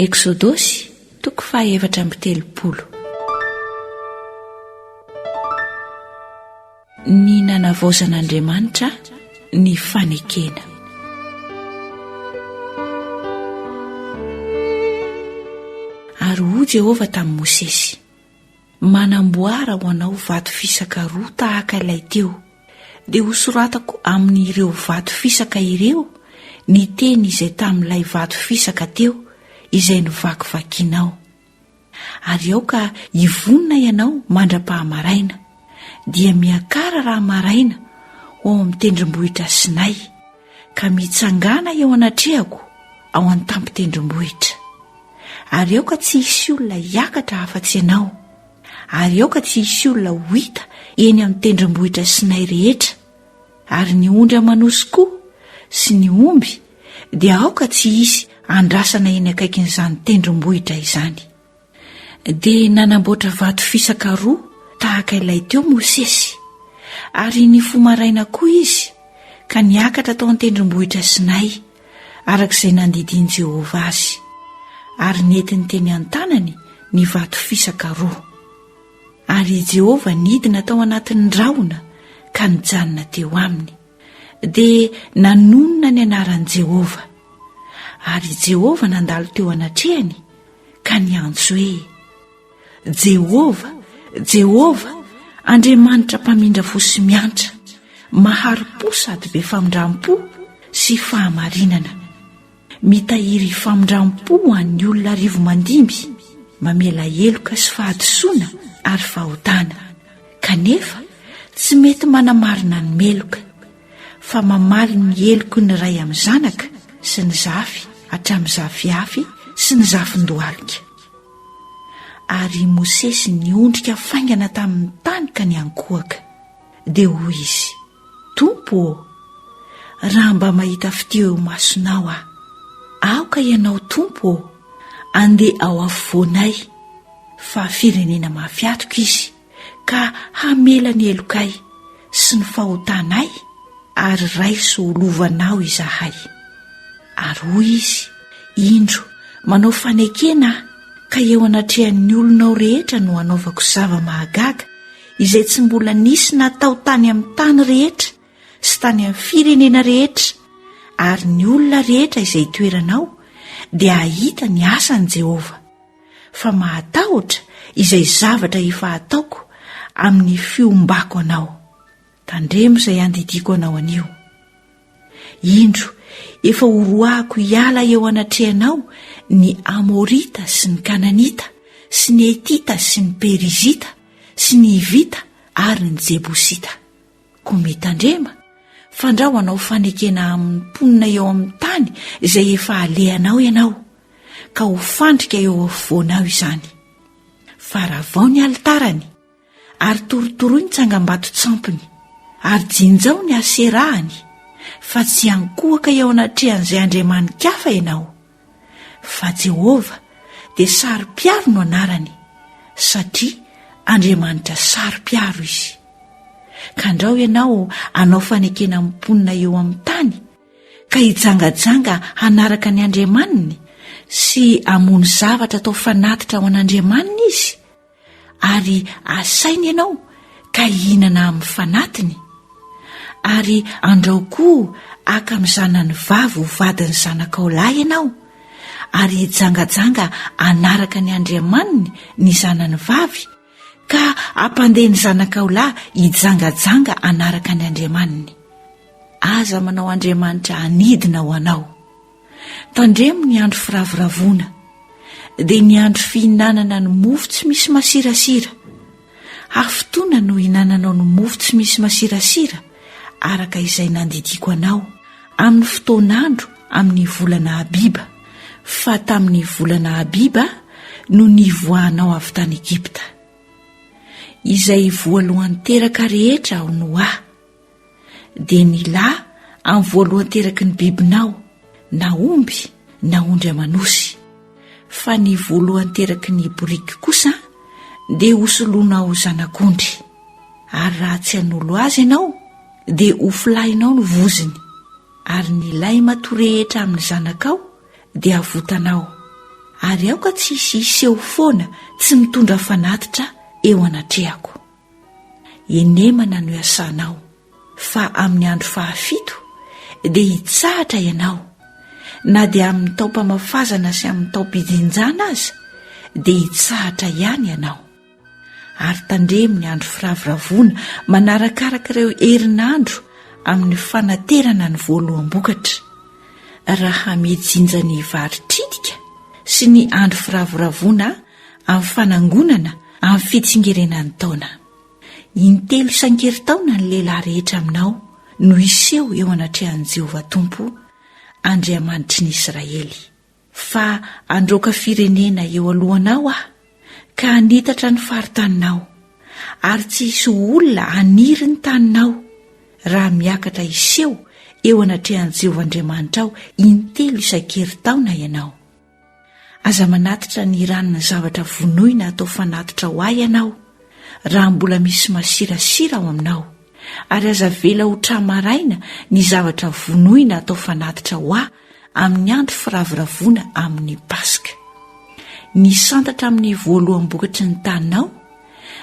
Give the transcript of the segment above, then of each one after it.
Eksodosy, toko fahaefatra amby telopolo. Ny nanavaozan'Andriamanitra ny fanekena. Ary hoy Jehovah tamin'i Mosesy. manamboara ho anao vato fisaka roa tahaka ilay teo, dia hosoratako amin'ireo vato fisaka ireo ny teny izay tamin'ilay vato fisaka teo izay novakivakianao. Ary aoka hivonona ianao mandra-pahamaraina, dia miakara raha maraina ho ao amin'ny tendrombohitra Sinay, ka mitsangàna eo anatrehako ao an-tampon-tendrombohitra. Ary aoka tsy hisy olona hiakatra afa-tsy ianao, ary aoka tsy hisy olona ho hita eny amin'ny tendrombohitra Sinay rehetra, ary ny ondry aman'osy koa sy ny omby dia aoka tsy hisy andrasana eny akaikin'izany tendrombohitra izany. Dia nanamboatra vato fisaka roa tahaka ilay teo Mosesy, ary nifoha maraina koa izy ka niakatra tao an-tendrombohitra Sinay, araka izay nandidian'i Jehovah azy, ary nentiny teny an-tanany ny vato fisaka roa. Ary i Jehovah nidina tao anatin'ny rahona ka nijanona teo aminy, dia nanonona ny anaran'i Jehovah. Ary i Jehovah nandalo teo anatrehany, ka niantso hoe jehovah jehovah andriamanitra mpamindra fo sy miantra mahari-po sady be famindram-po sy fahamarinana mitahiry ifamindram-po ho an'ny olona arivo mandimby mamela heloka sy fahadisoana ary fahotana kanefa tsy mety manamarina ny meloka fa mamaly ny heloky ny ray amin'ny zanaka sy ny zafy hatramin'ny zafiafy sy ny zafin-dohalika. Ary i Mosesy niondrika faingana tamin'ny tany ka niankohoka. Dia hoy izy, Tompo ô, raha mba mahita fitia eo imasonao aho. Aoka ianao, Tompo ô, andeha ao afovoanay, fa firenena mahafiatoka izy. ka hamela ny helokay sy ny fahotanay ary raiso ho lovanao izahay. Ary hoy izy, Indro, manao fanekena aho, ka eo anatrehan'ny olonao rehetra no hanaovako zava-mahagaga izay tsy mbola nisy natao tany amin'ny tany rehetra sy tany amin'ny firenena rehetra, ary ny olona rehetra izay itoeranao dia hahita ny asan'i Jehovah. fa mahatahotra izay zavatra efa ataoko amin'ny fiombako anao. Tandremo izay andidiako anao anio. Indro, efa horoahako hiala eo anatrehanao ny Amorita sy ny Kananita sy ny Etita sy ny Perizita sy ny Hivita ary ny Jebosita. Koa mitandrema, fandrao hanao fanekena amin'ny mponina eo amin'ny tany izay efa alehanao ianao, ka ho fandrika eo afovoanao izany. Faravao ny alitarany, ary torotoroy ny tsangambaton-tsampiny, ary jinjao ny Aserahany, fa tsy hankohaka eo anatrehan'izay andriamani-kafa ianao, fa Jehovah dia saro-piaro no anarany, satria Andriamanitra saro-piaro izy. Ka andrao ianao hanao fanekena amin'ny mponina eo amin'ny tany, ka hijangajanga hanaraka ny andriamaniny sy hamono zavatra atao fanatitra ho an'andriamaniny izy, Ary asainy ianao ka hihinana amin'ny fanatiny, ary andrao koa haka amin'ny zanany vavy ho vadin'ny zanakao lahy ianao, ary hijangajanga hanaraka ny andriamaniny ny zanany vavy, ka hampandeha ny zanakao lahy hijangajanga hanaraka ny andriamaniny. Aza manao andriamanitra hanidina ho anao. Tandremo ny andro firavoravoana, dia ny andro fihinanana ny mofo tsy misy masirasira. Hafotoana no hinananao ny mofo tsy misy masirasira, araka izay nandidiako anao, amin'ny fotoan'andro amin'ny volana Abiba, fa tamin'ny volana Abiba no nivoahanao avy tany Egypta. Izay voalohan-teraka rehetra ao Noa. dia ny lahy amin'ny voalohan-teraky ny bibinao na omby na ondry aman'osy fa ny voalohan-teraky ny boriky kosa dia hosoloanao zanak'ondry ary raha tsy hanolo azy ianao dia ho filahinao ny voziny ary ny lay mato rehetra amin'ny zanakao dia havotanao ary aoka tsy hisy hiseho foana tsy mitondra fanatitra eo anatrehako Henemana no iasanao, fa amin'ny andro fahafito dia hitsahatra ianao, na dia amin'ny taom-pamafazana sy amin'ny taom-pijinjana aza dia hitsahatra ihany ianao. Ary tandremo ny andro firavoravoana manarakaraka ireo herinandro amin'ny fanaterana ny voaloham-bokatra, raha mijinja ny vary tritika sy ny andro firavoravoana amin'ny fanangonana amin'ny fitsingerenan'ny taona. Intelo isan-kerintaona ny lehilahy rehetra aminao no hiseho eo anatrehan'i Jehovah Tompo, Andriamanitry ny Israely. Fa handroaka firenena eo alohanao aho ka hanitatra ny faritaninao, ary tsy hisy olona haniry ny taninao, raha miakatra hiseho eo anatrehan'i Jehovah Andriamanitrao intelo isan-kerintaona ianao. Aza manatitra ny ranona zavatra vonoina atao fanatitra ho ahy ianao, raha mbola misy masirasira ao aminao, ary aza avela ho tra-maraina ny zavatra vonoina atao fanatitra ho ahy amin'ny andro firavoravoana amin'ny Paska. Ny santatra amin'ny voaloham-bokatry ny taninao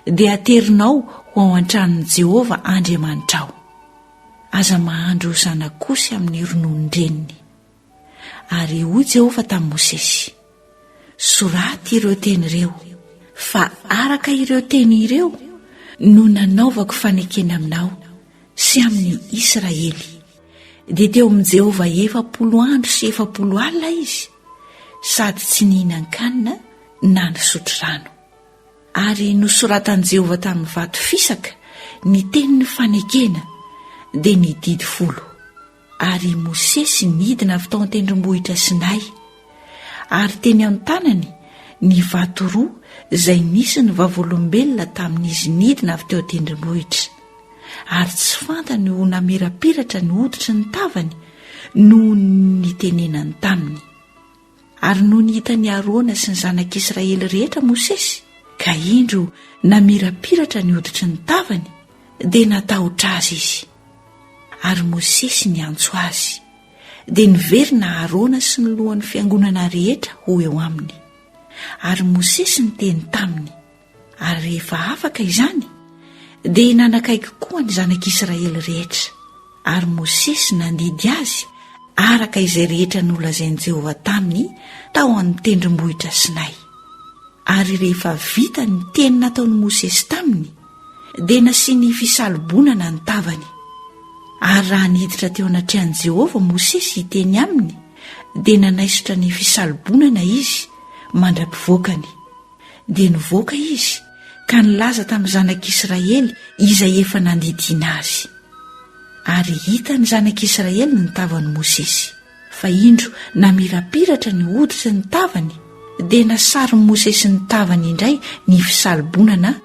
dia aterinao ho ao an-tranon'i Jehovah Andriamanitrao. Aza mahandro zanak'osy amin'ny rononon-dreniny. Ary hoy Jehovah tamin'i Mosesy, Soraty ireo teny ireo, fa araka ireo teny ireo no nanaovako fanekena aminao sy amin'i Israely. Dia teo amin'i Jehovah efapolo andro sy efapolo alina izy, sady tsy nihinan-kanina na nisotro rano. Ary nosoratan'i Jehovah tamin'ny vato fisaka ny tenin'ny fanekena, dia ny didy folo. Ary i Mosesy nidina avy tao an-tendrombohitra Sinay, ary teny an-tanany ny vato roa izay nisy ny vavolombelona tamin'izy nidina avy teo an-tendrombohitra, ary tsy fantany ho namirapiratra ny hoditry ny tavany noho ny nitenenany taminy. Ary nony hitan'i Arona sy ny zanak'Israely rehetra Mosesy, ka indro namirapiratra ny hoditry ny tavany, dia natahotra azy izy. Ary Mosesy niantso azy, dia niverina Arona sy ny lohan'ny fiangonana rehetra ho eo aminy. Ary Mosesy niteny taminy, Ary rehefa afaka izany, dia nanakaiky koa ny zanak'Israely rehetra, ary Mosesy nandidy azy araka izay rehetra nolazain'i Jehovah taminy tao amin'ny tendrombohitra Sinay. Ary rehefa vita ny teny nataon'i Mosesy taminy, dia nasiany fisalobonana ny tavany. Ary raha niditra teo anatrehan'i Jehovah Mosesy hiteny aminy, dia nanaisotra ny fisalobonana izy mandra-pivoakany. dia nivoaka izy ka nilaza tamin'ny zanak'Israely izay efa nandidiana azy. Ary hitan'ny zanak'Israely ny tavan'i Mosesy, fa indro namirapiratra ny hoditry ny tavany, dia nasarin'i Mosesy ny tavany indray ny fisalobonana